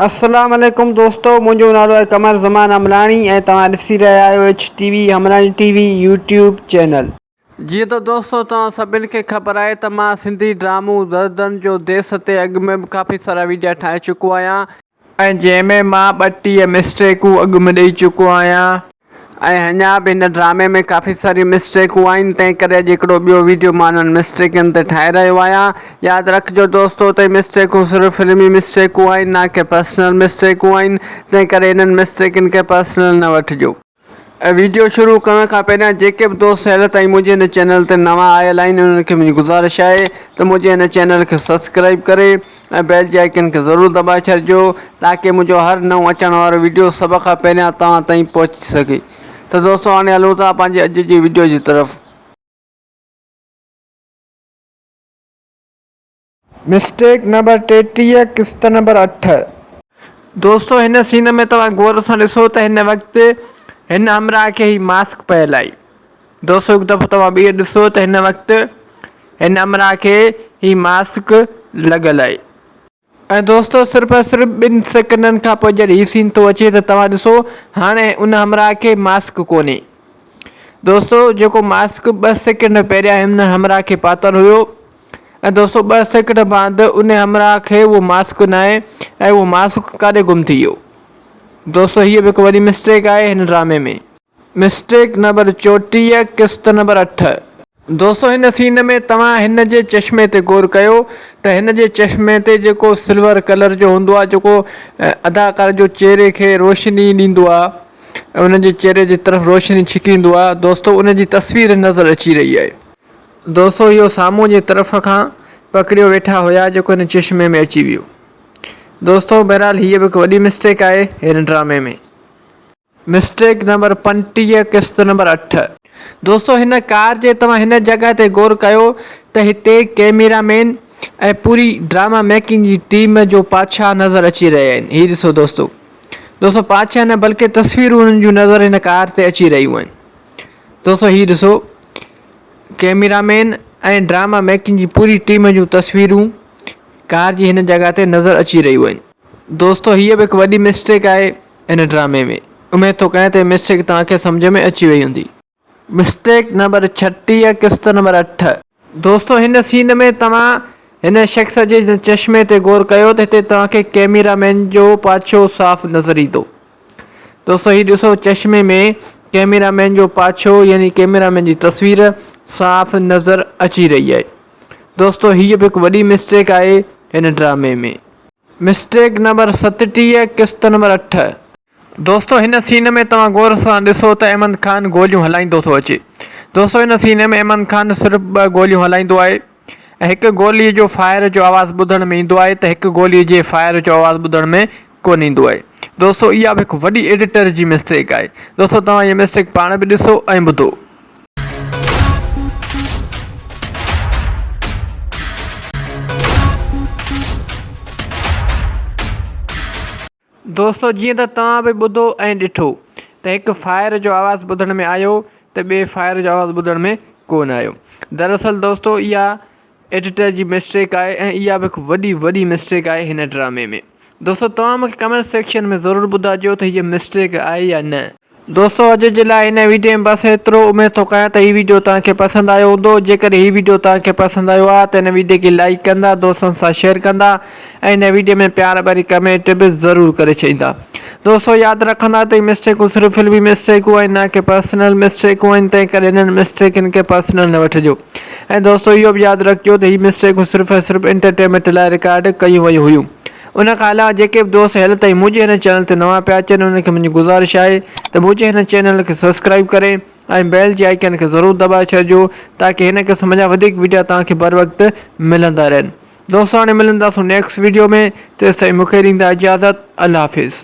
اسلام عليڪم دوستو منهنجو نالو آهي قمر زمان امراڻي ۽ توهان ڏسي رهيا آهيو H T V Amrani T V YouTube channel. جيئن ته دوستو توهان سڀني کي خبر آهي ته مان سنڌي ڊرامو دردن جو ديس تي اڳ ۾ به ڪافي سارا ويڊيا ٺاهي چڪو آهيان ۽ جنهن ۾ مان ٻه ٽيهه مسٽيڪون اڳ ۾ ڏئي چڪو آهيان. ۽ اڃا به هن ڊرامي ۾ ڪافي ساريون مسٽيڪون آهن تنهن ڪري اڄ هڪڙو ٻيو ويڊيو مان انهن مسٽيڪن تي ٺاهي رهيو آهيان ياد رکجو دوستو ته هي مسٽيڪون صرف فلمي مسٽيڪون آهن نه ڪي پرسنل مسٽيڪون آهن تنهن ڪري انهن مسٽيڪن کي پرسنل نه وٺجو. ۽ ويڊيو شروع ڪرڻ کان پهريان جيڪي به دوست هيل تائين منهنجي هن چينل تي نوان آيل آهن انهن کي منهنجي گذارش آهي ته منهنجي هن چينل کي سبسڪرائيب ڪري ۽ بيل جي آئيڪن کي ضرور دٻائي ڇڏجو تاڪي منهنجو هر نئون اچڻ وارو ويڊيو سڀ کان پهريان توهان تائين پهچي سگهي ته دوستو هاڻي هلون ٿا پنهنجي اڄ جي ويڊيو جي طرف. مسٽيڪ نمبر ٽيٽيهه قسط نمبر اٺ. دوستو هن سين ۾ توهان غور سان ڏسو ته هن وقت هن همراهه کي هي ماسڪ پيل آهي. دوستو هڪ دفعو توهان ٻيهر ڏسو ته هن وقت هن امرا کي هي ماسڪ لڳل آهي. ۽ دوستو صرف ۽ صرف ٻن سيڪنڊن کان پوء جڏهن هي سين ٿو اچي ته توهان ڏسو هاڻي ان همرا کي ماسڪ ڪونهي. دوستو جيڪو ماسڪ ٻه سيڪنڊ پهريان هن همرا کي پاتل هيو ۽ دوستو ٻه سيڪنڊ بعد ان همرا کي اهو ماسڪ ناهي ۽ اهو ماسڪ ڪاڏي گم ٿي ويو. دوستو هيء به هڪ وڏي مسٽيڪ آهي هن ڊرامي ۾. مسٽيڪ نمبر چوٽيهه قسط نمبر اٺ. دوستو هن سين ۾ توهان هن جي چشمي تي غور ڪيو ته هن جي چشمي تي جيڪو سلور ڪلر جو هوندو آهي جيڪو اداڪار جو چهري کي روشني ڏيندو آهي ان جي چهري جي طرف روشني ڇڪيندو آهي دوستو ان جي تصوير نظر اچي رهي آهي دوستو اهو سامهون جي طرف کان پڪڙيو ويٺا هيا جيڪو هن چشمي ۾ اچي ويو دوستو بهرحال هيء به هڪ وڏي مسٽيڪ آهي هن ڊرامي ۾. مسٽيڪ نمبر پنٽيهه قسط نمبر اٺ. دوستو هن ڪار جي توهان هن جڳهه تي غور ڪيو ته هتي ڪيميرا مين ۽ پوري ڊراما ميڪنگ جي ٽيم جو پاڇا نظر اچي رهيا آهن هي ڏسو دوستو دوستو پاڇا نه بلڪه تصويرون انهن جون نظر هن ڪار تي اچي رهيون آهن دوستو هي ڏسو ڪيميرا مين ۽ ڊراما ميڪنگ جي پوري ٽيم جون تصويرون ڪار جي هن جڳهه تي نظر اچي رهيون آهن. دوستو هيء به هڪ وڏي مسٽيڪ آهي هن ڊرامي ۾ اميد ٿو ڪيان ته هي مسٽيڪ توهان کي سمجهه ۾ اچي وئي هوندي. مسٽيڪ نمبر ڇٽيهه قسط نمبر اٺ. دوستو هن سين ۾ توهان هن شخص جي چشمي تي غور ڪيو ته هتي توهان کي ڪئميرا مين جو پاڇو صاف نظر ايندو. دوستو هي ڏسو چشمي ۾ ڪئميرا مين جو پاڇو يعني ڪئميرا مين جي تصوير صاف نظر اچي رهي آهي. دوستو هيء به هڪ وڏي مسٽيڪ آهي هن ڊرامي ۾. مسٽيڪ نمبر ستٽيهه قسط نمبر اٺ. دوستو هن سين ۾ توهان غور سان ڏسو ته احمد خان گوليون هلائيندو ٿو اچي. دوستو هن سين ۾ احمد خان صرف ٻه گوليون هلائيندو آهي ۽ هڪ گولي جو فائر جو آواز ٻڌڻ ۾ ايندو آهي ته هڪ گولي جي فائر جو آواز ٻڌڻ ۾ ڪونه ايندو آهي دوستو اها به هڪ وڏي ايڊيٽر جي مسٽيڪ آهي دوستو توهان اها مسٽيڪ پاڻ به ڏسو ۽ ٻڌو. دوستو جيئن ته توهان به ٻڌو ۽ ڏٺو ته هڪ فائر جو آواز ٻڌڻ ۾ آيو ته ٻئي فائر جو آواز ٻڌڻ ۾ ڪونه آيو دراصل دوستو اها ايڊيٽر جي مسٽيڪ آهي ۽ اها به هڪ وڏي وڏي مسٽيڪ آهي هن ڊرامي ۾ دوستو توهان مونکي ڪمينٽ سيڪشن ۾ ضرور ٻڌاجو ته هيء مسٽيڪ آهي يا نه. دوستو اڄ جي لاء هن ويڊيو ۾ بس ايترو اميد ٿو ڪيان ته هي ويڊيو توهان کي پسند آيو هوندو جيڪڏهن هي ويڊيو توهان کي پسند آيو آهي ته هن ويڊيو کي لائيڪ ڪندا دوستن سان شيئر ڪندا ۽ هن ويڊيو ۾ پيار ڀري ڪمينٽ به ضرور ڪري ڇڏيندا دوستو ياد رکندا ته هي مسٽيڪون صرف فلمي مسٽيڪون آهن نه ڪي پرسنل مسٽيڪون آهن تنهن ڪري انهن مسٽيڪن کي پرسنل نه وٺجو ۽ دوستو اهو به ياد رکجو ته هي مسٽيڪون صرف ۽ صرف انٽرٽينمينٽ لاء رڪارڊ ڪيون ويون هيون ان کان علاوه جيڪي به دوست هيل تائين منهنجي هن چينل تي نوان پيا اچن انهن کي منهنجي گذارش آهي ته منهنجي هن چينل کي سبسڪرائب ڪري ۽ بيل جي آئيڪن کي ضرور دٻائي ڇڏجو تاڪي هن قسم جا وڌيڪ وڊيا توهان کي بروقت ملندا رهن دوستو هاڻي ملنداسون نيڪسٽ ويڊيو ۾ تيستائين مون کي ڏيندا اجازت الله حافظ.